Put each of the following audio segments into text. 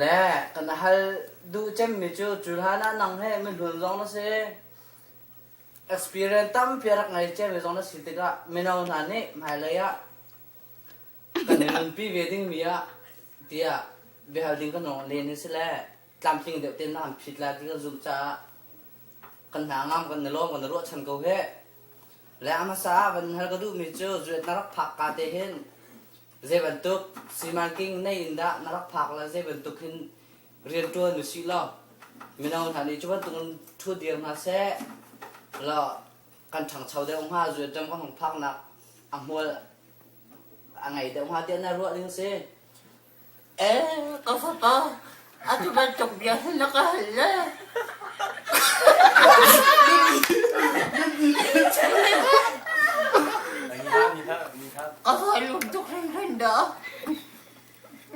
Le kan hal duh cemmi cu cu hlan ah nang he mihlun zong na si. Experience tampi a rak ngei cemmi zong na si tikah mino hna nih hmailei ah kan i nunpi ve dingmi ah tiah biahal ding kan rung len hi si le tlamtling deuh tein na an phit lai ti kan zumh caah kan hna ngam kan i lawm kan i ruahchan ko heh. Le a hmasa ah van hal ka duhmi cu zuet na rak phak ka te hin Zeibantuk simanking nei in dah na rak phak la zeibantuk hin riantuan u si law mino hna nih cu bantuk in thu dir hna seh law kan ṭhangcho deuh hnga zualṭam kan hong phaknak a hmual a ngei deuh hnga tiah na ruah ding si Ka fapa, atu bantuk bia hi na ka hal le? Ka hal tuk hringhran dah.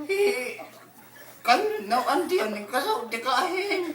Hi, kan no an tian ka zoh tikah hin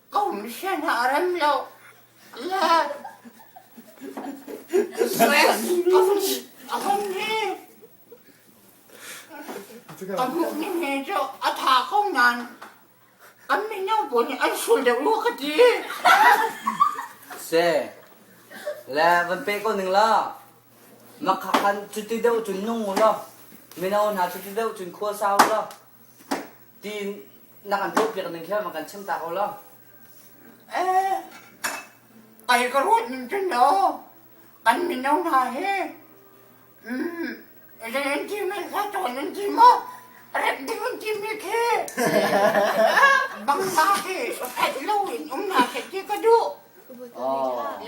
Ka um hlen a rem lo. Le stress ka hun a hun hi. Ka hmuh ni he cu a tha ko nan. An mino bu nih an sul deuh lu ka ti. Se, le van pe ko ning la. Makha kan cuti deuh cun nung u law. Mino hna cuti deuh cun khua sau u law. ti na kan tuah piak ning kha kan chim ta ko lo eh ai ka ruat ning tin lo kan mino hna hi mm rin ti mi kha ton in ti ma rep ding in ti mi khi bang ma khi phet lo in um na khi ti ka du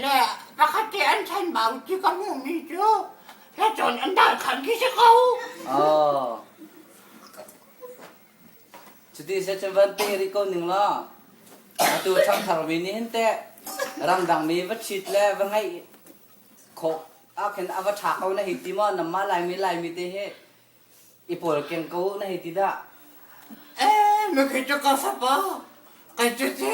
le pakhat ti an chan bau ti ka mu mi chu la chon an dal khan ki se ko Cuti seh cu van pe rih ko ning law atu ṭhangtharmi nih hin teh ramdangmi va ṭhit le va ngeih khawh ahkhin a va ṭha ko na hei ti maw? Nanmah Laimi Laimi te hi i pawlkeng ko uh na hei ti dah? Ee, nu khi cu ka sapa, kai cu ci.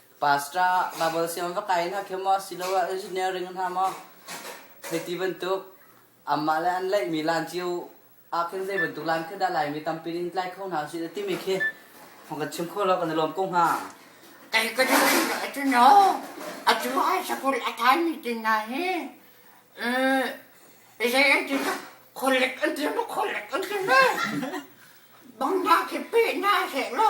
Pastor Bible siang va kai hna khi maw siloah engineering hna maw hei ti bantuk anmah le an leihmi lan cio ah khin zei bantuk lan khin dah Laimi tampi in tlai kho hna sih timi khi thong kan chim kho lo kan i lawm ko hnga. Kei ka ning atu no atu ai sakul atan ni tin na hi eh izai an tin collect an tin ma collect an tin ne bang na khi pe na he lo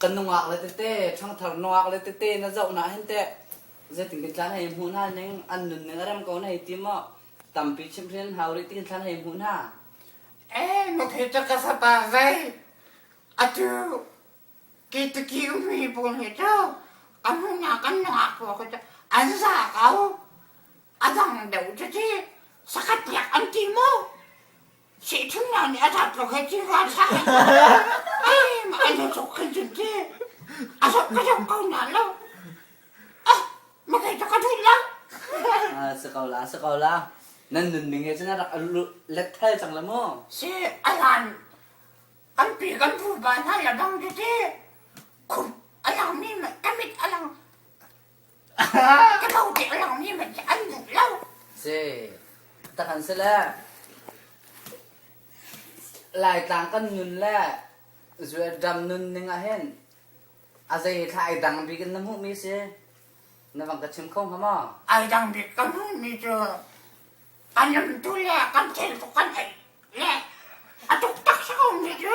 ka nungak le tete ṭhangthar nuak le tete na zoh na hin teh zeitin kan tlan hei hmu hna ning an nun ning a rem ko na hei ti maw tampi chimhrin hau rih tin tlan hei hmu hna eh na thi ca ka sata zei atu ki tu ki umi bul ni cu amu na kan nuak ko ko ca an za ko adang deu cu ci sakat tiak an ti mo Sihthumnak nih a tat ko khin cin ka sa. Ai na sok khin cun ci. A sok ka sok ko na lo. Ah, ma kai ta ka thuih la. Ah, si ko la, si ko la. Nan nunning he cun a rak letthal cang la mu. Si, alan. An pi kan pu ba hna la dong ti ti. Khur, alang mi, kamit alang. Ka tho te lomi man hi an duh lo. Si. Takhan si le Laitlang kan nun le dam nun ning ah hin a zei thla ai dang bik in na hmuh mi si na bang ka chim kho hnga ma ai dang bik kan hmuh mi cu an am tu le kan thil tu kan ei le a tuk tak sa mi cu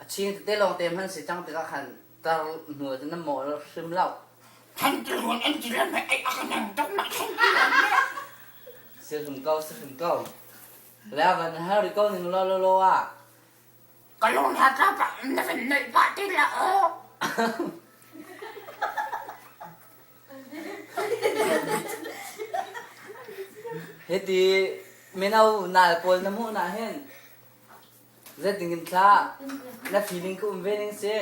A ching tete lawng te hman si cang tikah khan tar hnual cu na mawh hrim lo. Kan tilhuan an ti le meh ei a kan ang dam nak hrim ti lo meh. Si hrim ko, si hrim ko. Le van hal ri ko ning lo lo lo ah. Ka lung hla ka ka na van neih ba ti la o. Hiti mino nal pawl na hmuh na hin Zeitin kan thlah? Na feeling ka um ve ning si.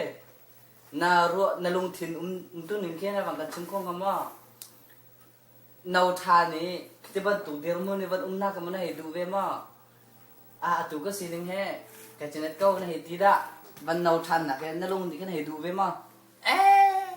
Na ruah na lungthin umtu ning khi na van kan chim kho hnga maw? No ṭha nih ti bantuk dirhmun i van umnak kha na hei duh ve maw? A atu ka sining he ka cinet ko na hei ti dah. Van no ṭhannak he na lung nih khin hei duh ve maw? Ee!